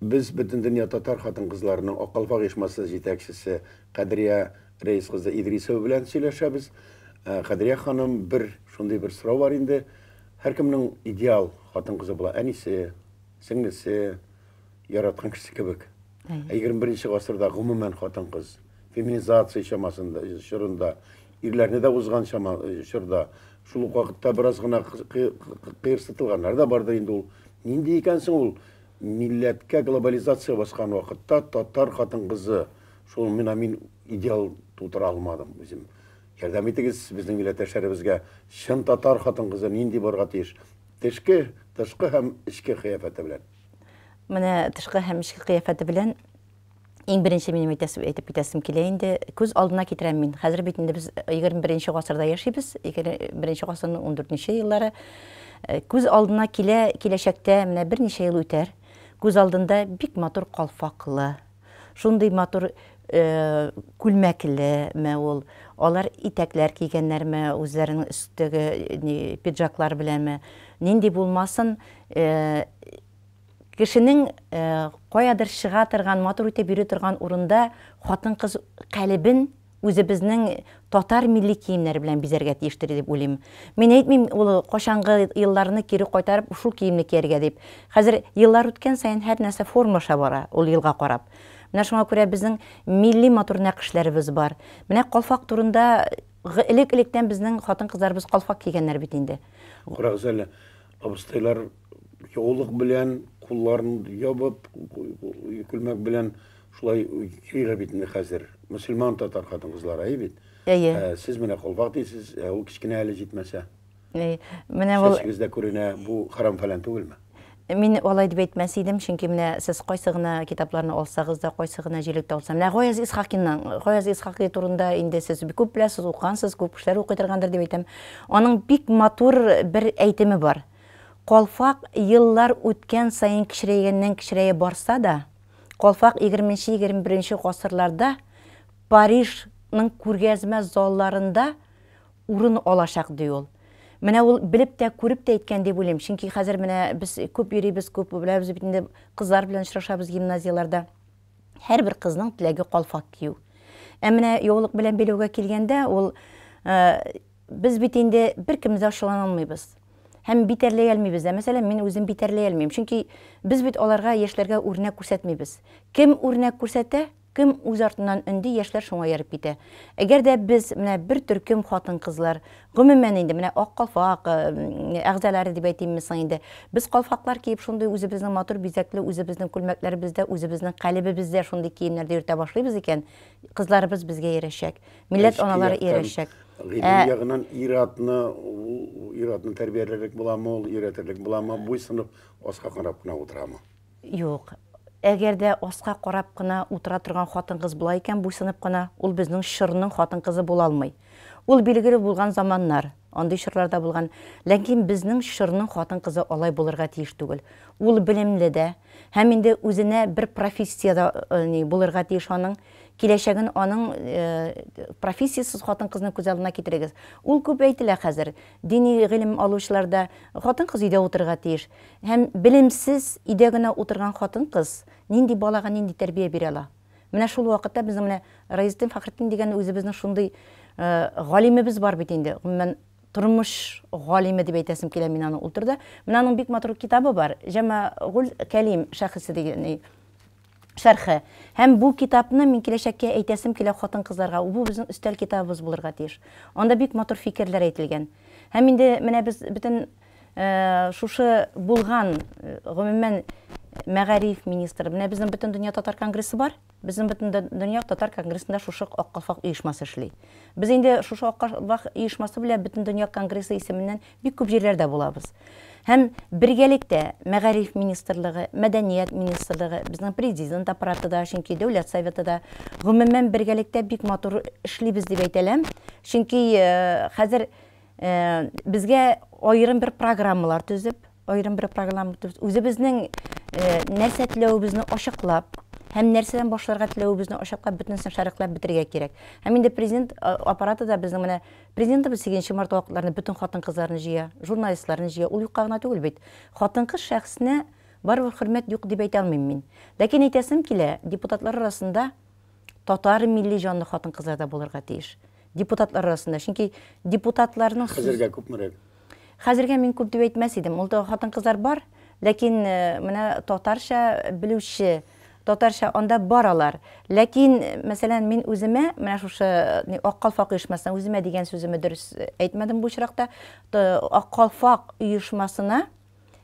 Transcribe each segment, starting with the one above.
Без Бөтендөнья татар хатын-кызларының Ак калфак оешмасы җитәкчесе Кадрия Рәис кызы Идрисова белән сөйләшәбез. Ә, Кадрия ханым, бер шундый бер сорау бар инде. Һәркемнең идеал хатын-кызы була, әнисе, сеңлесе, яраткан кешесе кебек. Ә 21 нче гасырда гомумән хатын-кыз феминизация чамасында, чорында, ирләрне дә узган чама, чорда, шул ук вакытта бераз гына кыерсытылганнар да бардыр инде ул. Нинди икән соң ул милләткә глобализация баскан вакытта татар хатын-кызы шул мина мин идеал тутыра алмадым үзем. Ярдәм итегез безнең милләттәшләребезгә чын татар хатын-кызы нинди барга тиеш? Тешке, тышкы һәм эчке кыяфәте белән. Менә тышкы һәм эчке кыяфәте белән иң беренче минем әйтәсем, әйтеп китәсем килә инде. Күз алдына китерәм мин. Хәзер бит инде без 21 гасырда яшибез. 21 гасырның 14 еллары. Э, күз алдына килә, киләчәктә менә берничә ел үтәр. Күз алдында бик матур калфаклы, Шундый матур күлмәклеме ул, алар итәкләр кигәннәрме, үзләренең өстәге пиджаклар беләме, нинди булмасын, кешенең каядыр чыга торган, матур итеп йөри торган урында хатын-кыз калебен, үзебезнең татар милли киемнәре белән бизәргә тиештер дип уйлыйм. Мин әйтмим ул кайчангы елларны кире кайтарып шул киемне кияргә дип. Хәзер еллар үткән саен һәр нәрсә формалаша бара, ул елга карап. Менә шуңа күрә безнең милли матур нәкышләребез бар. Менә калфак турында элек-электән безнең хатын-кызларыбыз калфак кигәннәр бит инде. Карагыз әле, абыстайлар яулык белән, кулларын ябып, күлмәк белән Шулай сөйлә бит инде хәзер. Мөселман татар хатын-кызлар, әйе бит? Әйе. Ә, Сез менә колпак дисез, ә ул кечкенә әле җитмәсә. Әй, Менә ул Чәчегез дә күренә, бу харам-фәлән түгелме? Мин алай дип әйтмәс идем, чөнки менә сез кайсы гына китапларны алсагыз да, кайсы гына җилекте алса, менә Гаяз Исхакинның, Гаяз Исхакый турында инде сез бик күп беләсез, укыгансыз, күп кешеләр укый торгандыр дип әйтәм. Аның бик матур бер әйтеме бар. Калфак еллар үткән саен кечерәйгәннән-кечерәя барса да, Калфак егерменче-егерме беренче гасырларда Парижның күргәзмә залларында урын алачак, ди ул. Менә ул белеп тә, күреп тә әйткән дип уйлыйм, чөнки хәзер менә без күп йөрибез, күп беләбез бит инде, кызлар белән очрашабыз гимназияләрдә. Һәрбер кызның теләге калфак кию. Ә менә яулык белән биләүгә килгәндә, ул Без бит инде беркем дә ачулана алмыйбыз. Һәм битәрләй әлмибез дә. Мәсәлән, мин үзем битәрләй әлмим. Чөнки без бит аларга, яшьләргә үрнәк күрсәтмибез. Кем үрнәк күрсәтә, кем үз артыннан өнди, яшьләр шуңа ияреп китә. Әгәр дә без, менә бер төркем хатын-кызлар, гомумән инде, менә Ак калфак әгъзалары дип әйтимме соң инде, без калфаклар киеп, шундый үзебезнең матур бизәкле үзебезнең күлмәкләребездә, үзебезнең калебебездә шундый киемнәрдә йөртә башлыйбыз икән, кызларыбыз безгә иярәчәк. Милләт Эчке аналары яктан, иярәчәк. Гыйлем Ә- ягынан ир-атны, ул ир-атны тәрбияләрлек буламы, ул өйрәтерлек буламы, буйсынып, аска карап кына утырамы? Юк. Әгәр дә аска карап кына утыра торган хатын-кыз була икән, буйсынып кына, ул безнең чорның хатын-кызы була алмый. Ул билгеле булган заманнар. Андый чорлар да булган. Ләкин безнең чорның хатын-кызы алай булырга тиеш түгел. Ул белемле дә, һәм инде үзенә бер профессия дә ни булырга тиеш аның. Киләчәген аның профессиясез хатын-кызны күз алдына китерегез. Ул күп әйтелә хәзер. Дини гыйлем алучылар да хатын-кыз өйдә утырырга тиеш. Һәм белемсез өйдә генә утырган хатын-кыз нинди балага нинди тәрбия бирә ала? Менә шул вакытта безнең менә Раизетдин Фәхретдин дигән үзебезнең шундый галимебез бар бит инде. Гомумән, тормыш галиме дип әйтәсем килә мин аны. Ул төрдә менә аның бик матур китабы бар, Җәмәгуль Кәлим шәхесе дигән шәрхе. Һәм бу китапны мин киләчәккә әйтәсем килә хатын-кызларга, бу безнең өстәл китабыбыз булырга тиеш. Анда бик матур фикерләр әйтелгән. Һәм инде менә без бөтен Шушы булган, гомумән, мәгариф министры, менә безнең Бөтендөнья татар конгрессы бар, безнең Бөтендөнья татар конгрессында шушы Ак калфак оешмасы эшли. Без инде шушы Ак калфак оешмасы белән Бөтендөнья конгрессы исеменнән бик күп җирләрдә булабыз. Һәм бергәлектә мәгариф министрлыгы, мәдәният министрлыгы, безнең президент аппараты да, чөнки дәүләт советы да, гомумән, бергәлектә бик матур эшлибез дип әйтәләм, чөнки хәзер Э, безгә аерым бер программалар төзеп, аерым бер программа төзеп, үзебезнең э, нәрсә теләвебезне ачыклап, һәм нәрсәдән башларга теләвебезне ачыклап, бөтенесен шәрехләп бетергә кирәк. Һәм инде президент э, аппараты да безнең менә президентыбыз 8 март вакытларында бөтен хатын-кызларны җыя, журналистларны җыя. Ул юкка гына түгел бит. Хатын-кыз шәхесенә барыбер хөрмәт юк дип әйтә алмыйм мин. Ләкин әйтәсем килә, депутатлар арасында татар милли җанлы хатын-кызлар да булырга тиеш. Депутатлар арасында, чөнки депутатларның... Хәзергә күпмерәк? Хәзергә мин күп дип әйтмәс идем. Ул да хатын-кызлар бар, ләкин э, менә татарча белүче, татарча анда бар алар. Ләкин, мәсәлән, мин үземә, менә шушы э, Ак калфак оешмасына, үземә дигән сүземне дөрес әйтмәдем бу очракта, Ак калфак оешмасына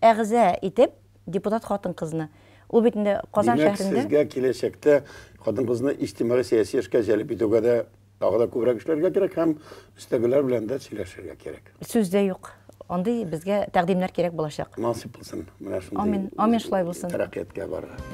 әгъза итеп депутат хатын-кызны. Ул бит инде Казан шәһәрендә. Димәк, сезгә киләчәктә хатын-кызны иҗтимагый-сәяси эшкә җәлеп итүгә дә тагы да күбрәк эшләргә кирәк һәм өстәгеләр белән дә сөйләшергә кирәк. Сүз дә юк. Андый безгә тәкъдимнәр кирәк булачак. Насыйп булсын менә шундый. Амин, амин шулай булсын. Тәрәкыятькә барырга.